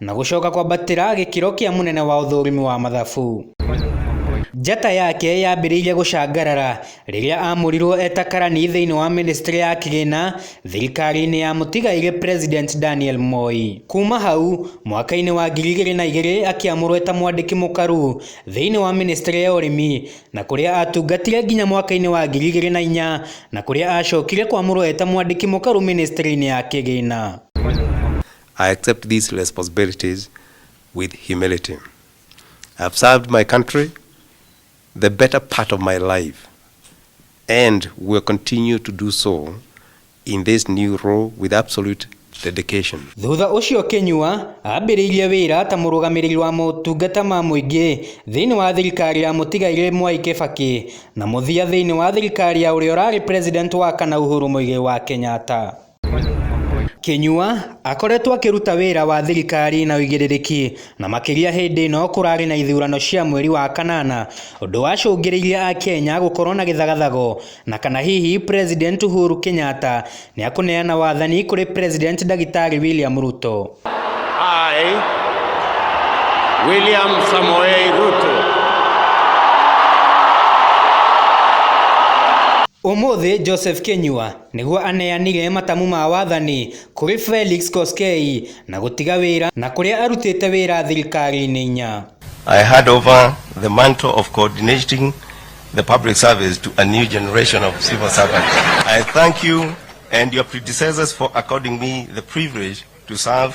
Na gũcoka kwambatĩra gĩkĩro kĩa mũnene wa ũthũrimi wa mathabu. Njata yake yaambĩrĩirie gũcangarara rĩrĩa aamũrirwo eta karani thĩinĩ wa ministry ya kĩgĩna thirikari-inĩ ya mũtigairĩ President Daniel Moi. Kuuma hau, mwaka-inĩ wa ngiri igĩrĩ na igĩrĩ akĩamũrwo eta mwandĩki mũkaru thĩinĩ wa ministry ya ũrĩmi na kũrĩa atungatire nginya mwaka-inĩ wa ngiri igĩrĩ na inya na kũrĩa acokire kwamũrwo eta mwandĩki mũkaru ministry-inĩ ya kĩgĩna. I accept these responsibilities with humility. I've served my country the better part of my life and will continue to do so in this new role with absolute dedication. Thutha ũcio Kinyua ambĩrĩirie wĩra ta mũrũgamĩrĩri wa motungata ma mũingĩ thĩinĩ wa thirikari ya mũtigairĩ Mwai Kĩbakĩ na mũthia thĩinĩ wa thirikari ya ũrĩa ũrarĩ president wa kana Uhuru Muigai wa Kenyatta. Kĩnyua akoretwo akĩruta wĩra wa thirikari na ũigĩrĩrĩki na makĩria hĩndĩ ĩno kũrarĩ na ithurano cia mweri wa kanana ũndũ wacũngĩrĩirie akenya gũkorwo na gĩthagathago na kana hihi President Uhuru Kenyatta nĩakũneana wathani kũrĩ President Ndagĩtarĩ William Ruto. I, William Samoei Ruto, Ũmũthĩ Joseph Kĩnyua Nĩguo aneanire matamu ma wathani kũrĩ Felix Koskei na gũtiga wĩra na kũrĩa arutĩte wĩra thirikari-inĩ inya. I hand over the mantle of coordinating the public service to a new generation of civil servants. I thank you and your predecessors for according me the privilege to serve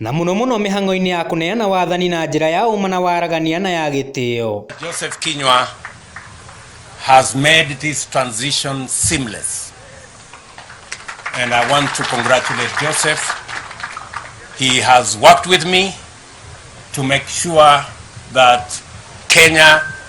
Na mũno mũno mĩhang'o-inĩ ya kũneana wathani na njĩra ya ũma na waragania na ya gĩtĩo. Joseph Kinyua has made this transition seamless and I want to congratulate Joseph. He has worked with me to make sure that Kenya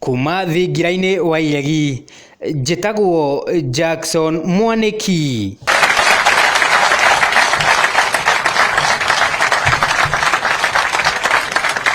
Kuuma thingira-inĩ wa iregi, njĩtagwo Jackson Mwanĩki.